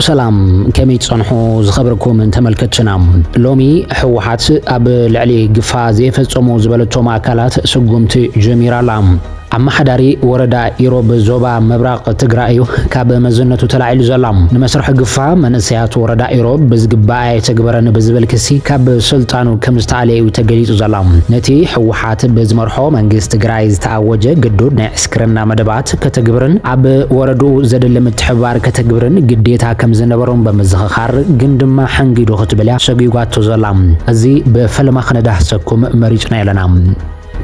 ሰላም ከመይ ትጸንሑ ዝኸበርኩም ተመልከትትና ሎሚ ሕወሓት ኣብ ልዕሊ ግፋ ዘየፈጸሙ ዝበለቶም ኣካላት ስጉምቲ ጀሚራ ኣላ። ኣመሓዳሪ ወረዳ ኢሮብ ዞባ ምብራቕ ትግራይ እዩ ካብ መዝነቱ ተላዒሉ ዘላ። ንመስርሒ ግፋ መንእሰያት ወረዳ ኢሮብ ብዝግባእ ኣየተግበረን ብዝብል ክሲ ካብ ስልጣኑ ከም ዝተኣልየ እዩ ተገሊጹ ዘላ። ነቲ ህወሓት ብዝመርሖ መንግስቲ ትግራይ ዝተኣወጀ ግዱድ ናይ ዕስክርና መደባት ስምምዓት ከተግብርን ኣብ ወረድኡ ዘድሊ ምትሕብባር ከተግብርን ግዴታ ከም ዝነበሮም ብምዝኽኻር፣ ግን ድማ ሓንጊዱ ክትብል እያ ሰጒጓቶ ዘላ። እዚ ብፈለማ ክነዳህሰኩም መሪጽና ኣለና።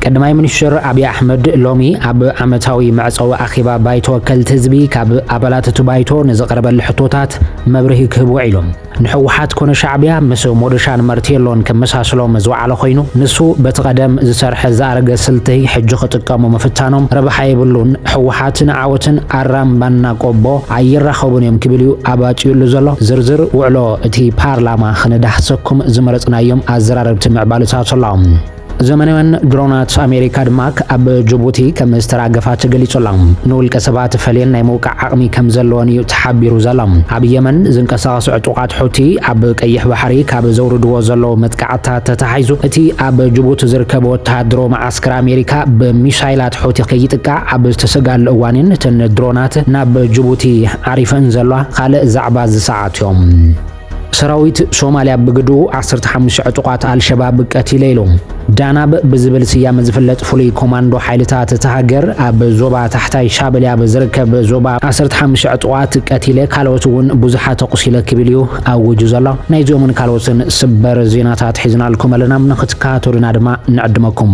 ቀዳማይ ሚኒስትር ኣብይ ኣሕመድ ሎሚ ኣብ ዓመታዊ መዕጸዊ ኣኼባ ባይቶ ወከልቲ ህዝቢ ካብ ኣባላት እቲ ባይቶ ንዝቐረበሉ ሕቶታት መብርሂ ክህብ ውዒሉ። ንሕወሓት ኮነ ሻዕቢያ ምስ ሞዶሻን መርቴሎን ከመሳስሎም ዝወዓለ ኮይኑ ንሱ በቲ ቀደም ዝሰርሐ ዝኣረገ ስልቲ ሕጂ ክጥቀሙ ምፍታኖም ረብሓ የብሉን ሕወሓትን ዓወትን ኣራምባና ቆቦ ኣይራኸቡን እዮም ክብል እዩ ኣባጭዩሉ ዘሎ ዝርዝር ውዕሎ እቲ ፓርላማ ክንዳህሰኩም ዝመረፅናዮም ኣዘራረብቲ ምዕባልታቶላ ዘመናውያን ድሮናት ኣሜሪካ ድማ ኣብ ጅቡቲ ከም ዝተራገፋ ተገሊጹ ኣሎ። ንውልቀ ሰባት ፈልየን ናይ ምውቃዕ ዓቕሚ ከም ዘለወን እዩ ተሓቢሩ ዘሎ። ኣብ የመን ዝንቀሳቐሱ ዕጡቓት ሑቲ ኣብ ቀይሕ ባሕሪ ካብ ዘውርድዎ ዘለዉ መጥቃዕትታት ተተሓሒዙ እቲ ኣብ ጅቡቲ ዝርከብ ወተሃደራዊ መዓስከር ኣሜሪካ ብሚሳይላት ሑቲ ከይጥቃዕ ኣብ ዝተሰግኣሉ እዋን እየን እተን ድሮናት ናብ ጅቡቲ ዓሪፈን ዘለዋ። ካልእ ዛዕባ እዚ ሰዓት እዮም። ሰራዊት ሶማልያ ብግድኡ ዓሰርተ ሓሙሽተ ዕጡቓት ኣልሸባብ ቀቲለ ኢሉ። ዳናብ ብዝብል ስያመ ዝፍለጥ ፍሉይ ኮማንዶ ሓይልታት እታ ሃገር ኣብ ዞባ ታሕታይ ሻበሌ ኣብ ዝርከብ ዞባ ዓሰርተ ሓሙሽተ ዕጡቓት ቀቲለ ካልኦት እውን ብዙሓት ኣቑሲለ ክብል እዩ ኣዊጁ ዘሎ። ናይዚኦምን ካልኦትን ስበር ዜናታት ሒዝናልኩም ኣለና ንኽትከታተሉና ድማ ንዕድመኩም።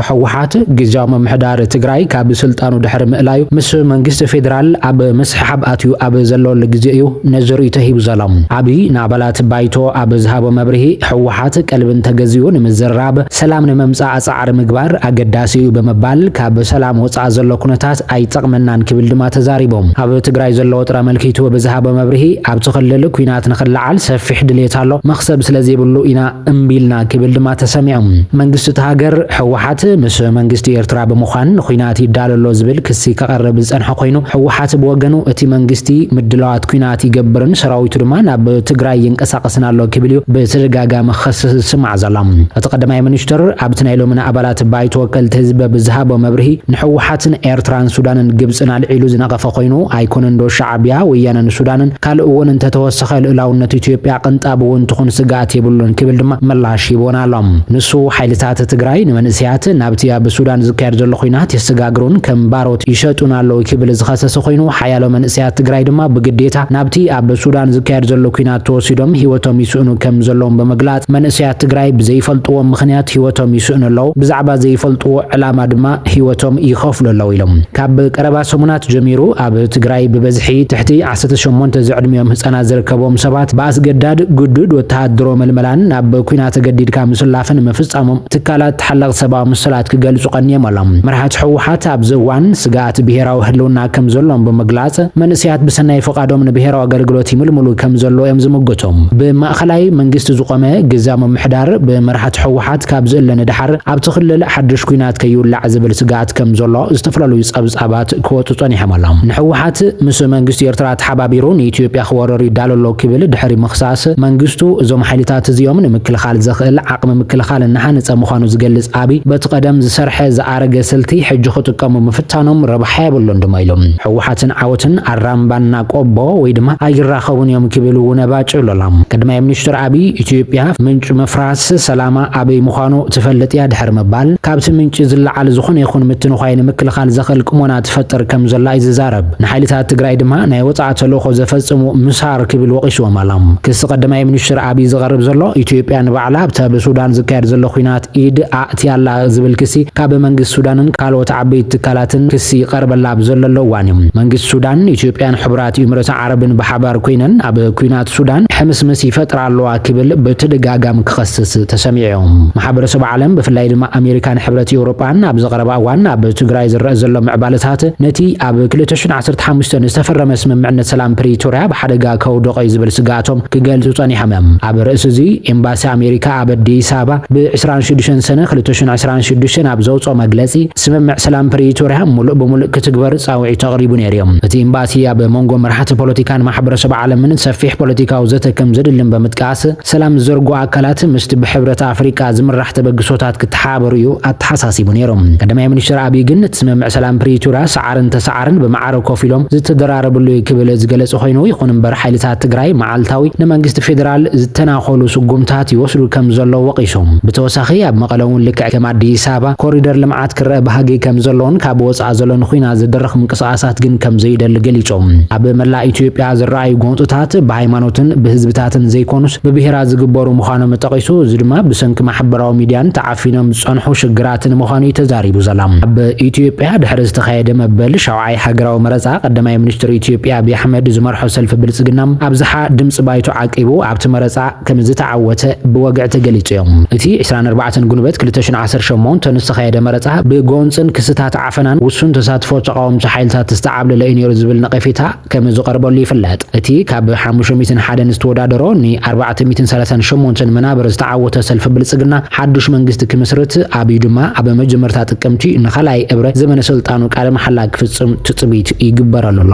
ህወሓት ግዝያዊ ምምሕዳር ትግራይ ካብ ስልጣኑ ድሕሪ ምእላዩ ምስ መንግስቲ ፌዴራል ኣብ ምስሕሓብ ኣትዩ ኣብ ዘለወሉ ግዜ እዩ ነዚ ርኢቶ ሂቡ ዘሎ። ኣብይ ንኣባላት ባይቶ ኣብ ዝሃቦ መብርሂ ህወሓት ቀልቢ እንተገዚኡ ንምዝርራብ፣ ሰላም ንምምፃእ ፃዕሪ ምግባር ኣገዳሲ እዩ ብምባል ካብ ሰላም ወፃኢ ዘሎ ኩነታት ኣይጠቕመናን ክብል ድማ ተዛሪቡ። ኣብ ትግራይ ዘሎ ወጥሪ ኣመልኪቱ ብዝሃቦ መብርሂ ኣብቲ ክልል ኲናት ንኽለዓል ሰፊሕ ድልየት ኣሎ፣ መኽሰብ ስለዘይብሉ ኢና እምቢ ኢልና ክብል ድማ ተሰሚዑ። መንግስቲ እታ ሃገር፣ ህወሓት ምስ መንግስቲ ኤርትራ ብምዃን ንኲናት ይዳሎ ኣሎ ዝብል ክሲ ከቕርብ ዝጸንሐ ኮይኑ፣ ህወሓት ብወገኑ እቲ መንግስቲ ምድላዋት ኲናት ይገብርን ሰራዊቱ ድማ ናብ ትግራይ ይንቀሳቐስን ኣሎ ክብል'ዩ ብተደጋጋሚ ክኸስስ ዝስማዕ ዘሎ። እቲ ቀዳማይ ሚኒስትር ኣብቲ ናይ ሎሚ ንኣባላት ባይቶ ወከልቲ ህዝቢ ብዝሃቦ መብርሂ፣ ንህወሓት ንኤርትራን ሱዳንን ግብጽን ኣልዒሉ ዝነቐፈ ኮይኑ፣ ኣይኮነንዶ ሻዕብያ፣ ወያነን ሱዳንን ካልእ እውን እንተተወሰኸ ልኡላውነት ኢትዮጵያ ቅንጣብ እውን ትኹን ስግኣት የብሉን ክብል ድማ ምላሽ ሂቡወን ኣሎ። ንሱ ሓይልታት ትግራይ ንመንእሰያት ናብቲ ኣብ ሱዳን ዝካየድ ዘሎ ኹናት የሰጋግሩን ከም ባሮት ይሸጡን ኣለው ክብል ዝኸሰሰ ኾይኑ ሓያሎ መንእሰያት ትግራይ ድማ ብግዴታ ናብቲ ኣብ ሱዳን ዝካየድ ዘሎ ኲናት ተወሲዶም ህይወቶም ይስእኑ ከም ዘለዎም ብምግላፅ መንእሰያት ትግራይ ብዘይፈልጥዎ ምኽንያት ህይወቶም ይስእኑ ኣለው፣ ብዛዕባ ዘይፈልጥዎ ዕላማ ድማ ህይወቶም ይኸፍሉ ኣለው ኢሎም። ካብ ቀረባ ሰሙናት ጀሚሩ ኣብ ትግራይ ብበዝሒ ትሕቲ ዓሰርተ ሸሞንተ ዝዕድሚኦም ህጻናት ዝርከብዎም ሰባት ብኣስገዳድ ግዱድ ወተሃደሮ መልመላን ናብ ኩናት ተገዲድካ ምስላፍን ምፍጻሞም ትካላት ተሓለቕቲ ሰብኣዊ መሰላት ክገልጹ ቀንዮም ኣሎም። መራሕቲ ህወሓት ኣብዚ እዋን ስግኣት ብሄራዊ ህልውና ከም ዘሎም ብምግላጽ መንእሰያት ብሰናይ ፍቓዶም ንብሄራዊ ኣገልግሎት ይምልምሉ ከም ዘለዉ እዮም ዝምጉቱ። ብማእኸላይ መንግስቲ ዝቖመ ግዝያዊ ምምሕዳር ብመራሕቲ ህወሓት ካብ ዝእለ ንደሓር ኣብቲ ክልል ሓድሽ ኩናት ከይውላዕ ዝብል ስግኣት ከም ዘሎ ዝተፈላለዩ ጸብጻባት ኲናት ክወጹ ጸኒሖም ኣሎም። ንሕወሓት ምስ መንግስቲ ኤርትራ ተሓባቢሩ ንኢትዮጵያ ክወርር ይዳሎ ኣሎ ክብል ድሕሪ ምኽሳስ፣ መንግስቱ እዞም ሓይልታት እዚኦም ንምክልኻል ዘኽእል ዓቕሚ ምክልኻል እናሃነጸ ምዃኑ ዝገልጽ ኣብይ፣ በቲ ቀደም ዝሰርሐ ዝኣረገ ስልቲ ሕጂ ክጥቀሙ ምፍታኖም ረብሓ የብሉን ድማ ኢሉ። ሕወሓትን ዓወትን ኣራምባና ቆቦ ወይ ድማ ኣይራኸቡን እዮም ክብል እውን ባጭ ኢሉ ኣሎ። ቀዳማይ ሚኒስትር ኣብይ፣ ኢትዮጵያ ምንጪ ምፍራስ ሰላማ፣ ኣበይ ምዃኑ ትፈልጥ እያ ድሕሪ ምባል፣ ካብቲ ምንጪ ዝለዓል ዝኾነ ይኹን ምትንዃይ ንምክልኻል ዘኽእል ቅሞና ትፈጥር ከም ዘላ እዩ ዝዛረብ። ንሓይልታት ትግራይ ድማ ናይ ወጻእ ተልእኾ ዘፈጽሙ ምሳር ክብል ወቒስዎም ኣሎ። ክሲ ቀዳማይ ሚኒስትር ኣብይ ዝቐርብ ዘሎ፣ ኢትዮጵያ ንባዕላ ኣብቲ ኣብ ሱዳን ዝካየድ ዘሎ ኲናት ኢድ ኣእትያ ኣላ ዝብል ክሲ ካብ መንግስቲ ሱዳንን ካልኦት ዓበይቲ ትካላትን ክሲ ይቐርበላ ኣብ ዘለሎ እዋን እዩ። መንግስቲ ሱዳን፣ ኢትዮጵያን ሕቡራት ኢምረተ ዓረብን ሓባር ኮይነን ኣብ ኲናት ሱዳን ሕምስምስ ይፈጥራ ኣለዋ ክብል ብተደጋጋም ክኸስስ ተሰሚዑ። ማሕበረሰብ ዓለም ብፍላይ ድማ ኣሜሪካን ሕብረት ኤውሮጳን ኣብዚ ቀረባ እዋን ኣብ ትግራይ ዝረእ ዘሎ ምዕባለታት ነቲ ኣብ ክልተ ሽሕን ዓሰርተ ሓሙሽተን ዝተፈረመ ስምምዕነት ሰላም ፕሪቶርያ ብሓደጋ ከውድቖ እዩ ዝብል ስግኣቶም ክገልጹ ጸኒሖም እዮም። ኣብ ርእሲ እዚ ኤምባሲ ኣሜሪካ ኣብ ኣዲስ ኣበባ ብ ዕስራን ሽዱሽተን ሰነ ክልተ ሽሕን ዕስራን ሽዱሽተን ኣብ ዘውጽኦ መግለጺ ስምምዕ ሰላም ፕሪቶርያ ሙሉእ ብሙሉእ ክትግበር ፃውዒት ኣቕሪቡ ነይሩ ዩ። እቲ ኢምባሲ ኣብ ሞንጎ መራሕቲ ፖለቲካን ማሕበረሰብ ዓለምን ሰፊሕ ፖለቲካዊ ዘተ ከምዘድልን በምጥቃስ ሰላም ዝዘርጉ ኣካላት ምስቲ ብሕብረት ኣፍሪቃ ዝምራሕ ተበግሶታት ክተሓባበሩ ዩ ኣተሓሳሲቡ ነይሩ። ቀዳማይ ሚኒስትር ኣብይ ግን እቲ ስምምዕ ሰላም ፕሪቶርያ ሰዓርን ተሰዓርን ብማዕረ ኮፍ ኢሎም ዝተደራረብሉ ዩ ክብል ዝገለፀ ኾይኑ ይኹን እምበር ሓይልታት ትግራይ መዓልታዊ ንመንግስቲ ፌደራል ዝተናኾሉ ስጉምታት ይወስዱ ከምዘለው ወቒሱ። ብተወሳኺ ኣብ መቐለ ውን ልክዕ ከም ኣዲስ ኣበባ ኮሪደር ልምዓት ክረኣ ባህጊ ከምዘለዎን ካብ ወፃኢ ዘሎ ንኹናት ዝድርኽ ምንቅስቓሳት ግን ከምዘይደሊ ገሊፁ። ኣብ መላእ ኢትዮጵያ ዝረኣዩ ጎንፅታት ብሃይማኖትን ብህዝብታትን ዘይኮኑስ ብብሄራት ዝግበሩ ምዃኖም ጠቒሱ፣ እዚ ድማ ብሰንኪ ማሕበራዊ ሚድያን ተዓፊኖም ዝፀንሑ ሽግራትን ምዃኑ እዩ ተዛሪቡ። ዘላ። ኣብ ኢትዮጵያ ድሕሪ ዝተኻየደ መበል ሻውዓይ ሃገራዊ መረፃ ቀዳማይ ሚኒስትር ኢትዮጵያ ኣብዪ ኣሕመድ ዝመርሖ ሰልፊ ብልፅግና ኣብዝሓ ድምፂ ባይቶ ዓቂቡ ኣብቲ መረፃ ከምዝተዓወተ ብወግዒ ተገሊጹ እዮ። እቲ ዕስራን ኣርባዕተን ግንቦት ክልተ ሽሕ ዓሰርተ ሸሞንተ ንዝተኻየደ መረጻ ብጎንጽን ክስታት ዓፈናን ውሱን ተሳትፎ ተቓወምቲ ሓይልታት ዝተዓብለለ እዩ ነይሩ ዝብል ነቐፌታ ከምዝቐርበሉ ይፍለጥ። እቲ ካብ ሓሙሽተ ሚእትን ሓደን ዝተወዳደሮ ን ኣርባዕተ ሚእትን ሰላሳን ሸሞንተን መናብር ዝተዓወተ ሰልፊ ብልጽግና ሓዱሽ መንግስቲ ክምስርት ኣብዩ ድማ ኣብ መጀመርታ ጥቅምቲ ንኻልኣይ እብረ ዘመነ ስልጣኑ ቃለ መሓላ ክፍጽም ትጽቢት ይግበረሉ ኣሎ።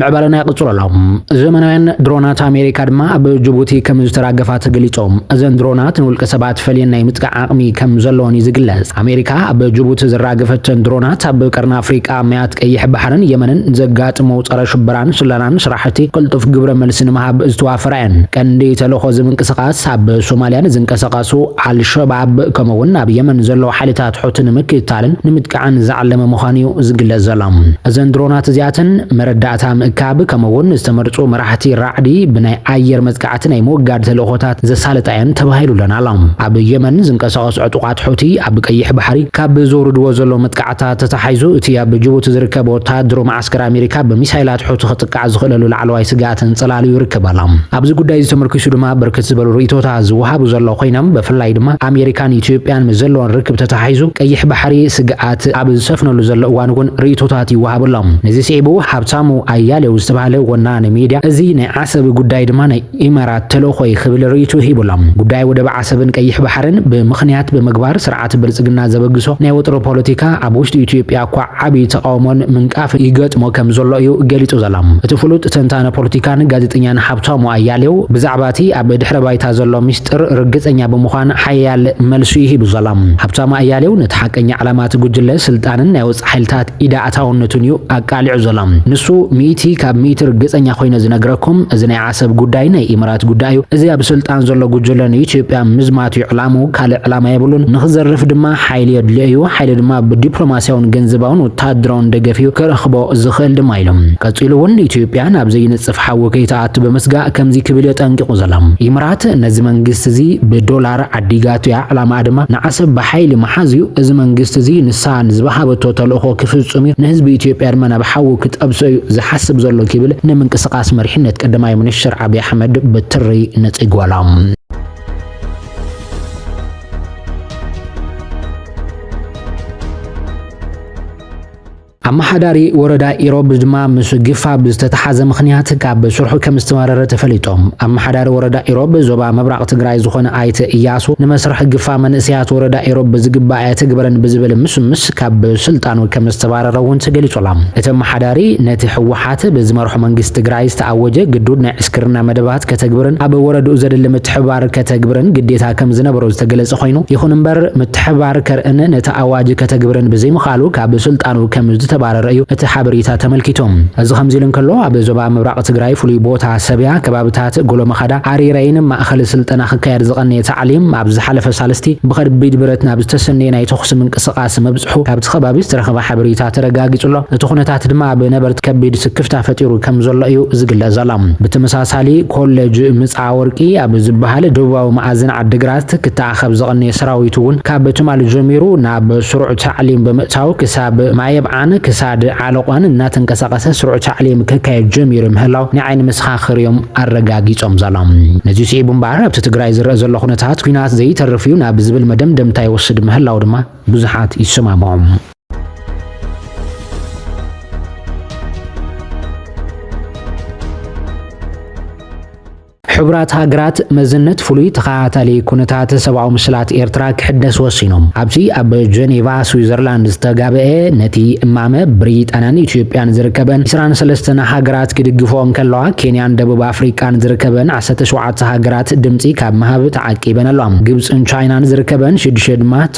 ምዕባለና ይቕፅሎ ኣሎ ዘመናውያን ድሮናት ኣሜሪካ ድማ ኣብ ጅቡቲ ከም ዝተራገፋ ተገሊፆም እዘን ድሮናት ንውልቀ ሰባት ፈልየን ናይ ምጥቃዕ ዓቕሚ ከም ዘለዎን እዩ ዝግለጽ ኣሜሪካ ኣብ ጅቡቲ ዝራገፈተን ድሮናት ኣብ ቀርኒ ኣፍሪቃ መያት ቀይሕ ባሕርን የመንን ዘጋጥሞ ፀረ ሽበራን ስለናን ስራሕቲ ቅልጡፍ ግብረ መልሲ ንምሃብ ዝተዋፈራ እየን ቀንዲ ተልእኾ እዚ ምንቅስቃስ ኣብ ሶማልያን ዝንቀሳቀሱ ኣልሸባብ ከምኡ'ውን ኣብ የመን ዘለዉ ሓይልታት ሑቲ ንምክትታልን ንምጥቃዕን ዝዓለመ ምዃኑ'ዩ ዝግለጽ ዘሎ። እዘን ድሮናት እዚኣተን፣ መረዳእታ ምእካብ ከምኡ'ውን ዝተመርጹ መራሕቲ ራዕዲ ብናይ ኣየር መጥቃዕቲ ናይ ምውጋድ ተልእኾታት ዘሳልጣ'የን ተባሂሉለን ኣሎ። ኣብ የመን ዝንቀሳቐሱ ዕጡቓት ሑቲ፣ ኣብ ቀይሕ ባሕሪ ካብ ዘውርድዎ ዘለዉ መጥቃዕትታት ተተሓሒዙ እቲ ኣብ ጅቡቲ ዝርከብ ወተሃደሮም ስግር ኣሜሪካ ብሚሳይላት ሑቲ ክጥቃዕ ዝኽእለሉ ላዕለዋይ ስግኣትን ጽላልዩ ይርከብ ኣሎ። ኣብዚ ጉዳይዚ ተመርኲሱ ድማ ብርክት ዝበሉ ርእይቶታት ዝወሃቡ ዘለዉ ኮይኖም ብፍላይ ድማ ኣሜሪካን ኢትዮጵያን ምስ ዘለወን ርክብ ተተሓሒዙ ቀይሕ ባሕሪ ስግኣት ኣብ ዝሰፍነሉ ዘሎ እዋን እውን ርእይቶታት ይወሃቡ ኣሎ። ነዚ ስዒቡ ሃብታሙ ኣያሌው ዝተባህለ ወናኒ ሚድያ እዚ ናይ ዓሰብ ጉዳይ ድማ ናይ ኢማራት ተልእኾይ ክብል ርእይትኡ ሂቡ'ሎ። ጉዳይ ወደብ ዓሰብን ቀይሕ ባሕርን ብምኽንያት ብምግባር ስርዓት ብልጽግና ዘበግሶ ናይ ወጥሪ ፖለቲካ ኣብ ውሽጢ ኢትዮጵያ'ኳ ዓቢ ተቓውሞን ምንቃፍን ይገጥሞ ከም ዘሎ እዩ ገሊጹ ዘሎ። እቲ ፍሉጥ ተንታኒ ፖለቲካን ጋዜጠኛን ሃብታሙ ኣያሌው ብዛዕባ'ቲ ኣብ ድሕረ ባይታ ዘሎ ምስጢር ርግጸኛ ብምዃን ሓያል መልሲ'ዩ ሂቡ ዘሎ። ሃብታሙ ኣያሌው ነቲ ሓቀኛ ዕላማ'ቲ ጉጅለ ስልጣንን ናይ ወጻኢ ሓይልታት ኢድ ኣታውነቱን እዩ ኣቃሊዑ ዘሎ ንሱ ሚእቲ ካብ ሚእቲ ርግጸኛ ኮይነ ዝነግረኩም እዚ ናይ ዓሰብ ጉዳይ ናይ ኢምራት ጉዳይ እዩ እዚ ኣብ ስልጣን ዘሎ ጉጅለ ንኢትዮጵያ ምዝማት እዩ ዕላምኡ ካልእ ዕላማ የብሉን ንክዘርፍ ድማ ሓይሊ የድልዮ እዩ ሓይሊ ድማ ብዲፕሎማስያውን ገንዘባውን ወተሃደራውን ደገፍ እዩ ክረኽቦ ዝኽእል ድማ ኢሉ ቀጺሉ እውን ኢትዮጵያ ናብ ዘይንጽፍ ሓዊ ከይትኣቱ ብምስጋእ ከምዚ ክብል እዩ ኣጠንቂቑ ዘሎ ኢምራት ነዚ መንግስቲ እዚ ብዶላር ዓዲጋቱ እያ ዕላማኣ ድማ ንዓሰብ ብሓይሊ ምሓዝ እዩ እዚ መንግስቲ እዚ ንሳ ዝባሃበቶ ተልእኾ ክፍፅም እዩ ንህዝቢ ኢትዮጵያ ድማ ናብ ሓዊ ክጠብሶ እዩ ዝሓስብ ዘሎ ክብል ንምንቅስቃስ መሪሕነት ቀዳማይ ምንሽር ዓብይ ኣሕመድ ብትሪ ነፂጓሎም። ኣመሓዳሪ ወረዳ ኢሮብ ድማ ምስ ግፋ ብዝተተሓዘ ምኽንያት ካብ ስርሑ ከም ዝተመረረ ተፈሊጡ። ኣመሓዳሪ ወረዳ ኢሮብ ዞባ ምብራቕ ትግራይ ዝኾነ ኣይተ ኢያሱ ንመስርሕ ግፋ መንእሰያት ወረዳ ኢሮብ ብዝግባእ ኣየተግበረን ብዝብል ምስምስ ካብ ስልጣኑ ከም ዝተባረረ እውን ተገሊፁ ኣሎ። እቲ ኣመሓዳሪ ነቲ ህወሓት ብዝመርሖ መንግስቲ ትግራይ ዝተኣወጀ ግዱድ ናይ ዕስክርና መደባት ከተግብርን ኣብ ወረድኡ ዘድሊ ምትሕብባር ከተግብርን ግዴታ ከም ዝነበሮ ዝተገለፀ ኮይኑ ይኹን እምበር ምትሕብባር ከርእን ነቲ ኣዋጅ ከተግብርን ብዘይምኽኣሉ ቃሉ ካብ ስልጣኑ ከም ዝተባረረ እዩ እቲ ሓበሬታ ተመልኪቱ። እዚ ከምዚ ኢሉ እንከሎ፣ ኣብ ዞባ ምብራቕ ትግራይ ፍሉይ ቦታ ሰብያ፣ ከባብታት ጎሎመኻዳ፣ ኣሪረይን ማእኸል ስልጠና ክካየድ ዝቐነየ ታዕሊም ኣብ ዝሓለፈ ሳልስቲ ብኸቢድ ብረት ናብ ዝተሰነየ ናይ ተኹሲ ምንቅስቓስ ምብፅሑ ካብቲ ከባቢ ዝተረኸበ ሓበሬታ ተረጋጊፁ ኣሎ። እቲ ኩነታት ድማ ኣብ ነበርቲ ከቢድ ስክፍታ ፈጢሩ ከም ዘሎ እዩ ዝግለፅ ዘሎ። ብተመሳሳሊ ኮሌጅ ኣወርቂ ኣብ ዝበሃል ደቡባዊ መኣዝን ዓዲግራት ክተኣኸብ ዝቐነየ ሰራዊት እውን ካብ ትማሊ ጀሚሩ ናብ ስሩዕ ታዕሊም ብምእታው ክሳብ ማየብዓን ክሳድ ዓለቋን እናተንቀሳቐሰ ስሩዕ ታዕሊም ከካየድ ጀሚሩ ምህላው ናይ ዓይኒ መሰኻኽር እዮም ኣረጋጊፆም ዘሎም። ነዚ ስዒቡ እምበኣር ኣብቲ ትግራይ ዝረእ ዘሎ ኩነታት ኲናት ዘይተርፍ እዩ ናብ ዝብል መደምደምታ ይወስድ ምህላው ድማ ብዙሓት ይሰማምዑ። ሕቡራት ሃገራት መዝነት ፍሉይ ተኸታታሊ ኩነታት ሰብኣዊ ምስላት ኤርትራ ክሕደስ ወሲኖም ኣብዚ ኣብ ጀኔቫ ስዊዘርላንድ ዝተጋብአ ነቲ እማመ ብሪጣንያን ኢትዮጵያን ዝርከበን 23 ሃገራት ክድግፎ እንከለዋ ኬንያን ደቡብ ኣፍሪቃን ዝርከበን 17 ሃገራት ድምፂ ካብ ምሃብ ተዓቂበን ኣሏ ግብፅን ቻይናን ዝርከበን ሽዱሽተ ድማ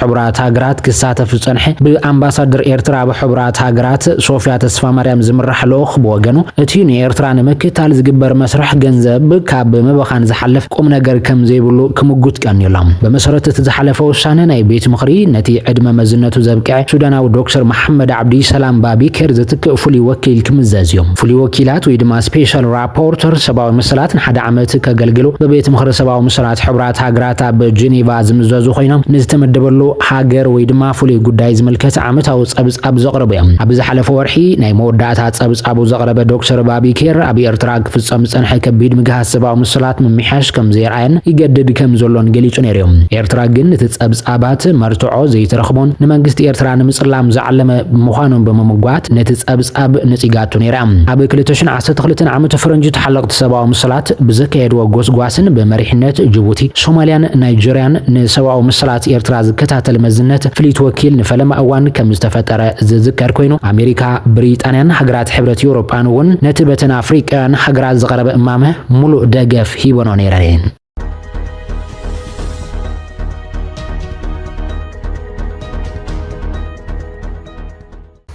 ሕቡራት ሃገራት ክሳተፍ ዝጸንሐ ብኣምባሳደር ኤርትራ ኣብ ሕቡራት ሃገራት ሶፍያ ተስፋማርያም ዝምራሕ ልኡኽ ብወገኑ እቲ ንኤርትራ ንምክታል ዝግበር መስርሕ ገንዘብ ካብ ምብኻን ዝሓልፍ ቁምነገር ከምዘይብሉ ክምጉት ቀንዩ ኣሎ። ብመሰረት እቲ ዝሓለፈ ውሳነ ናይ ቤት ምኽሪ ነቲ ዕድመ መዝነቱ ዘብቅዐ ሱዳናዊ ዶክተር መሓመድ ዓብዲ ሰላም ባቢ ኬር ዝትክእ ፍሉይ ወኪል ክምዘዝ እዩ። ፍሉይ ወኪላት ወይ ድማ ስፔሻል ፖርተር ሰብኣዊ መሰላት ንሓደ ዓመት ከገልግሉ ብቤት ምኽሪ ሰብኣዊ መሰላት ሕቡራት ሃገራት ኣብ ጄኔቫ ዝምዘዙ ኮይኖም ንዝተመደበሉ ሃገር ወይ ድማ ፍሉይ ጉዳይ ዝምልከት ዓመታዊ ጸብጻብ ዘቕርቡ እዮም። ኣብ ዝሓለፈ ወርሒ ናይ መወዳእታ ጸብጻቡ ዘቕረበ ዶክተር ባቢ ኬር ኣብ ኤርትራ ክፍጸም ዝጸንሐ ከቢድ ምግሃስ ሰብኣዊ መሰላት ምምሕያሽ ከም ዘየርኣየን ይገድድ ከም ዘሎን ገሊጹ ነይሩ እዩ። ኤርትራ ግን እቲ ጸብጻባት መርትዖ ዘይተረኽቦን ንመንግስቲ ኤርትራ ንምጽላም ዝዓለመ ምዃኑን ብምምጓት ነቲ ጸብጻብ ነጺጋቶ ነይራ። ኣብ ክልተ ሽሕን እቲ ትኽልትን ዓመቱ ፈረንጂ ተሓለቕቲ ሰብኣዊ መሰላት ብዘካየድዎ ጎስጓስን ብመሪሕነት ጅቡቲ፣ ሶማልያን ናይጀርያን ንሰብኣዊ መሰላት ኤርትራ ዝከታተል መዝነት ፍልይቲ ወኪል ንፈለማ እዋን ከምዝተፈጠረ ዝዝከር ኮይኑ፣ ኣሜሪካ፣ ብሪጣንያን ሃገራት ሕብረት ኤውሮጳን እውን ነቲ በተን ኣፍሪቃውያን ሃገራት ዝቐረበ እማመ ምሉእ ደገፍ ሂበንኦ ነይረን እየን።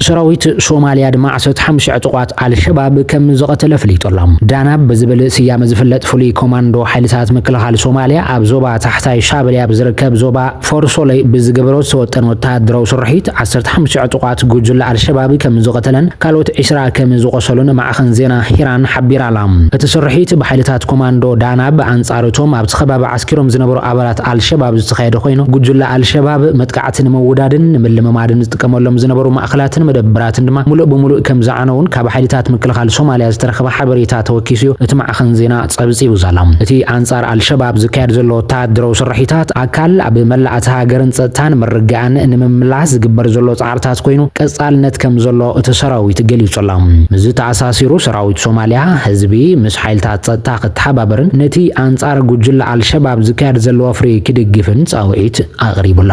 ሰራዊት ሶማልያ ድማ 15 ዕጡቋት ኣልሸባብ ከም ዝቐተለ ፍሊጡ ኣሎ። ዳናብ ብዝብል ስያመ ዝፍለጥ ፍሉይ ኮማንዶ ሓይልታት ምክልኻል ሶማልያ ኣብ ዞባ ታሕታይ ሻበልያ ብዝርከብ ዞባ ፎርሶለይ ብዝገበሮ ዝተወጠነ ወተሃደራዊ ስርሒት 15 ዕጡቋት ጉጅለ ኣልሸባብ ከም ዝቐተለን ካልኦት 20 ከም ዝቖሰሉን ማዕኸን ዜና ሂራን ሓቢራ ኣላ። እቲ ስርሒት ብሓይልታት ኮማንዶ ዳናብ ኣንጻር እቶም ኣብቲ ከባቢ ዓስኪሮም ዝነበሩ ኣባላት ኣልሸባብ ዝተኻየደ ኮይኑ፣ ጉጅለ ኣልሸባብ መጥቃዕቲ ንምውዳድን ንምልምማድን ዝጥቀመሎም ዝነበሩ ማእከላትን መደበራትን ድማ ምሉእ ብምሉእ ከምዝዓነዉን ካብ ሓይልታት ምክልኻል ሶማልያ ዝተረኸበ ሓበሬታ ተወኪሱ'ዩ እቲ ማዕኸን ዜና ጸብጺቡ ዘሎ። እቲ ኣንጻር ኣልሸባብ ዝካየድ ዘሎ ወተሃደራዊ ስርሒታት፣ ኣካል ኣብ መላእ እታ ሃገርን ጸጥታን ምርግጋእን ንምምላስ ዝግበር ዘሎ ጻዕርታት ኮይኑ፣ ቀጻልነት ከምዘሎ እቲ ሰራዊት ገሊጹ'ሎ። ምስዚ ተኣሳሲሩ ሰራዊት ሶማልያ፣ ህዝቢ ምስ ሓይልታት ጸጥታ ክተሓባበርን ነቲ ኣንጻር ጉጅለ ኣልሸባብ ዝካየድ ዘሎ ወፍሪ ክድግፍን ጻውዒት ኣቕሪቡ ኣሎ።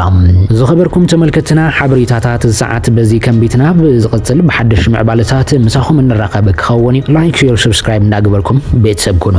ዝኸበርኩም ተመልከትና ሓበሬታታት ሰዓት በዚ ከንቢትና ብዝቕጽል ብሓደሽ ምዕባለታት ምሳኹም እንራኸብ ክኸውን እዩ። ላይክ ሼር ሰብስክራይብ እንዳገበርኩም ቤተሰብ ኩኑ።